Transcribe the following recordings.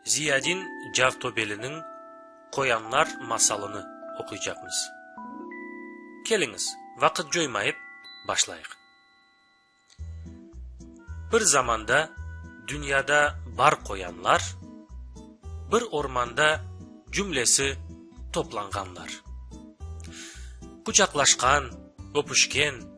Ziyadin Cavtobeliniñ Qoyanlar masalını oquycaqmız. Keliñiz, vaqıt coymayıp, başlayıq. Bir zamanda dünyada bar qoyanlar, Bir ormanda cümlesi toplanğanlar. Quçaqlaşqan, öpüşken.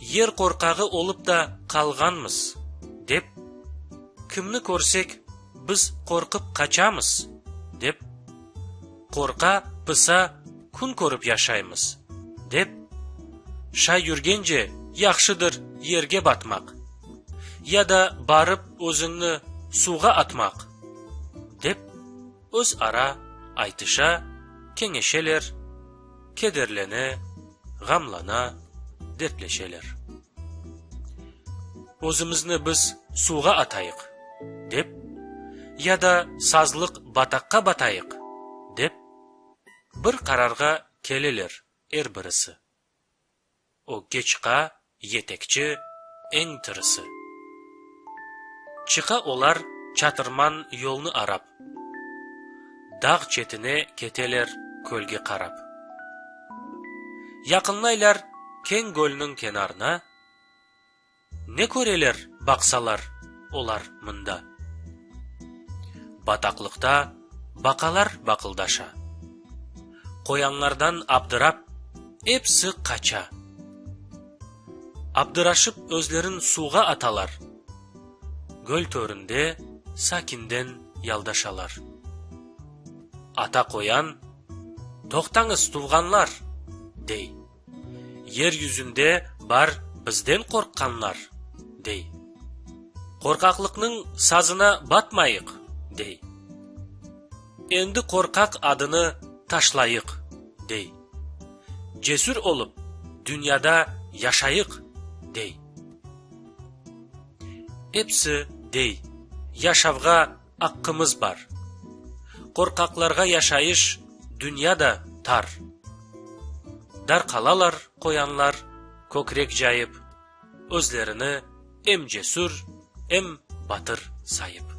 Yer qorqağı olıp da qalğanmız, dep, kimni körsek, biz qorqıp qaçamız, dep, qorqa, pısa, kün körip yaşaymız, dep, şay yürgence yahşıdır yerge batmaq, ya da barıp özüñni suvğa atmaq, dep, öz ara aytışa, keñeşeler, kederlene, ğamlana, dertleşeler. Özümizni biz suvğa atayıq, dep, ya da sazlıq bataqqa batayıq, dep, bir qararğa keleler er birisi. O ke çıqa, yetekçi, eñ tırısı. Çıqa olar çatırman yolnı arap. Dağ çetine keteler kölge qarap. Yaqınlaylar keñ gölniñ kenarına. Ne köreler baqsalar olar mında? Bataqlıqta baqalar baqıldaşa. Qoyanlardan abdırap, epsi qaça. Abdıraşıp özlerin suvğa atalar. Göl töründe sakinden yaldaşalar. Ata qoyan, Toqtañız, tuvğanlar! dey. Yer yüzünde bar bizden qorqqanlar, dey. Qorqaqlıqnıñ sazına batmayıq, dey. Endi qorqaq adını taşlayıq, dey. Cesür olıp, dünyada yaşayıq, dey. Episi, dey, yaşavğa aqqımız bar. Qorqaqlarğa yaşayış dünya da tar. Dar qalalar qoyanlar kökrek cayıp, özlerini em cesür, em batır sayıp.